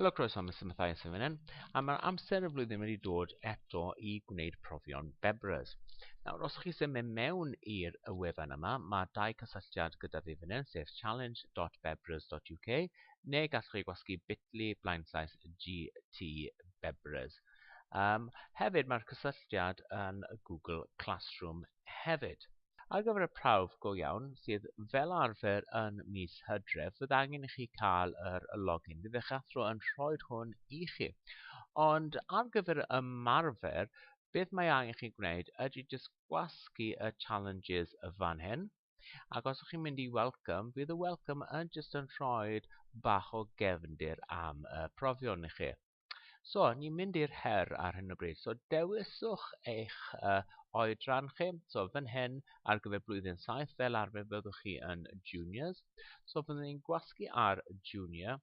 Helo, croeso Mr Mathias yn fan a mae'r amser y flwyddyn wedi dod eto i gwneud profion Bebras. Nawr, os chi symud mewn i'r wefan yma, mae dau cysylltiad gyda fi fan sef challenge.bebras.uk, neu gallwch chi gwasgu bitly blaenllaes GT Bebras. Um, hefyd, mae'r cysylltiad yn Google Classroom hefyd. Ar gyfer y prawf go iawn, sydd fel arfer yn mis Hydref, bydd angen i chi cael yr login. Bydd eich athro yn rhoi hwn i chi. Ond ar gyfer y ymarfer, beth mae angen chi gwneud ydy just gwasgu y challenges y fan hyn. Ac os ydych chi'n mynd i welcome, bydd y welcome yn just yn rhoi bach o gefndir am y profion i chi. So, ni'n mynd i'r her ar hyn o bryd. So, dewiswch eich uh, oedran chi. So, fan hyn, ar gyfer blwyddyn 7, fel arfer fyddwch chi yn juniors. So, fyddwn ni'n gwasgu ar junior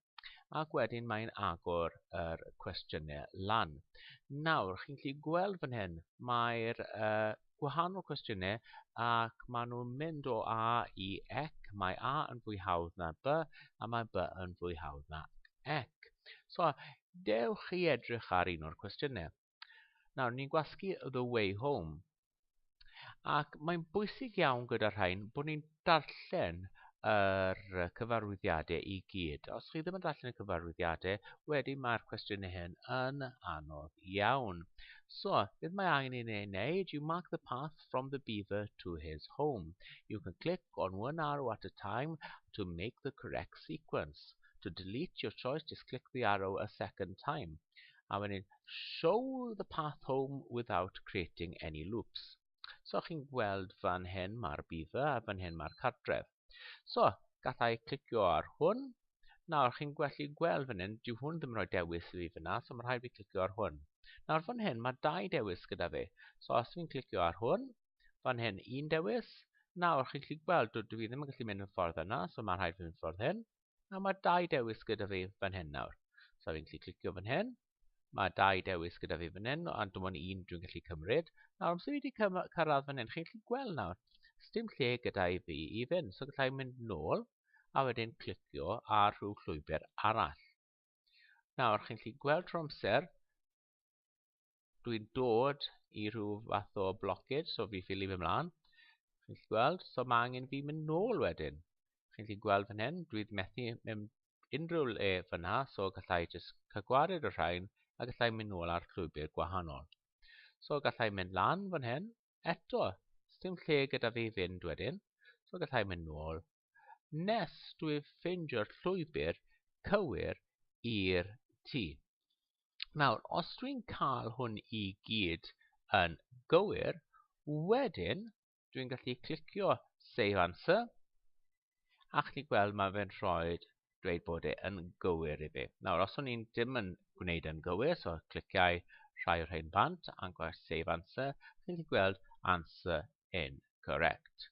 ac wedyn mae'n agor yr cwestiynau lan. Nawr, chi'n gallu gweld fan hyn, mae'r uh, gwahanol cwestiynau ac maen nhw'n mynd o A i Ec. Mae A yn fwy hawdd na B a mae B yn fwy hawdd na Ec. So, dewch chi edrych ar un o'r cwestiynau. Nawr, ni'n gwasgu The Way Home. Ac mae'n bwysig iawn gyda rhain bod ni'n darllen yr cyfarwyddiadau i gyd. Os chi ddim yn darllen y cyfarwyddiadau, wedyn mae'r cwestiynau hyn yn anodd iawn. So, beth mae angen i ni wneud? You mark the path from the beaver to his home. You can click on one arrow at a time to make the correct sequence. To delete your choice, just click the arrow a second time. A wedyn, show the path home without creating any loops. So chi'n gweld fan hyn mae'r bidda a fan hyn mae'r cartref. So, gallai clicio ar hwn. Nawr chi'n gallu gweld fan hyn, dyw hwn ddim yn rhoi dewis i fi fyna, so mae rhaid fi clicio ar hwn. Nawr fan hyn mae dau dewis gyda fi. So os fi'n clicio ar hwn, fan hyn un dewis. Nawr chi'n gallu gweld, dwi fi ddim yn gallu mynd yn ffordd yna, so mae rhaid fi mynd ffordd hyn. A mae dau dewis gyda fi fan hyn nawr. So fi'n gallu clicio fan hyn, Mae dau dewis gyda fi fan hyn, ond dim ond un dwi'n gallu cymryd. Nawr, amser i wedi cyrraedd fan hyn, chi'n gallu gweld nawr, dim lle gyda i fi i fynd. So gallai mynd nôl, a wedyn clicio ar rhyw llwybr arall. Nawr, chi'n gallu gweld trwy amser, dwi'n dod i rhyw fath o blockage, so fi ffili fy mlaen. Chi'n gallu gweld, so mae angen fi mynd nôl wedyn. Chi'n gallu gweld fan hyn, dwi'n methu mynd unrhyw le fyna so gallai jyst cagwaru'r y rhain a gallai mynd nôl ar llwybr gwahanol so gallai mynd lan fan hyn eto sdim lle gyda fi fynd wedyn so gallai mynd nôl nes dwi ffeindio'r llwybr cywir i'r tŷ nawr os dwi'n cael hwn i gyd yn gywir wedyn dwi'n gallu clicio Save Answer a chi'n gweld mae fe'n rhoi dweud bod e yn gywir i fi. Nawr, os o'n i'n dim yn gwneud yn gywir, so cliciau rhai o'r rhain bant a gwaith Save Answer, chi'n gallu gweld Answer Incorrect.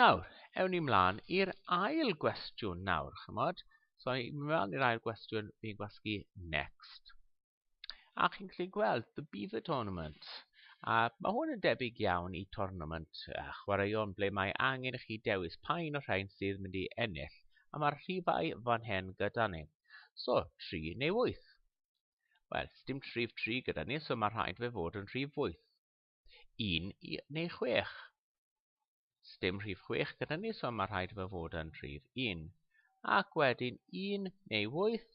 Nawr, ewn ni mlaen i'r ail gwestiwn nawr, chymod? So, i mewn i'r ail gwestiwn, fi'n gwasgu Next. A chi'n gallu gweld The Beaver Tournament. A mae hwn yn debyg iawn i tournament a chwaraeon ble mae angen i chi dewis pa un o'r rhain sydd mynd i ennill. A mae'r rhifau fan hyn gyda ni. So, 3 neu 8. Wel, dim rhif 3 gyda ni, so mae rhaid fe fod yn rhif 8. 1 neu 6. Sdim rhif chwech gyda ni, so mae rhaid fe fod yn rhif un. Ac wedyn un neu wyth,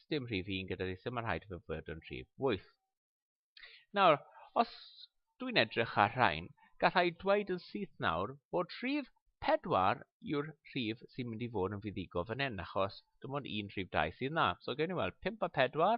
sdim rhif un gyda ni, so mae rhaid fe fod yn rhif wyth. Nawr, os dwi'n edrych ar rhain, gallai dweud yn syth nawr bod rhif pedwar yw'r rhif sy'n mynd i fod yn fuddigo fan hyn, achos dim ond un rhif dau sydd na. So gen i weld 5 a 4,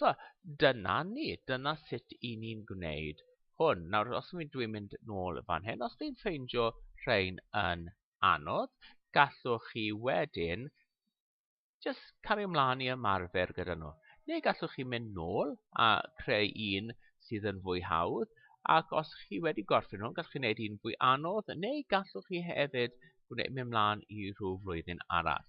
So, dyna ni, dyna sut i ni'n gwneud hwn. Nawr, os mi dwi'n mynd nôl fan hyn, os dwi'n ffeindio rhain yn anodd, gallwch chi wedyn just cario ymlaen i ymarfer gyda nhw. Neu gallwch chi mynd nôl a creu un sydd yn fwy hawdd, ac os chi wedi gorffen nhw, gallwch chi wneud un fwy anodd, neu gallwch chi hefyd gwneud mynd mlaen i rhyw flwyddyn arall.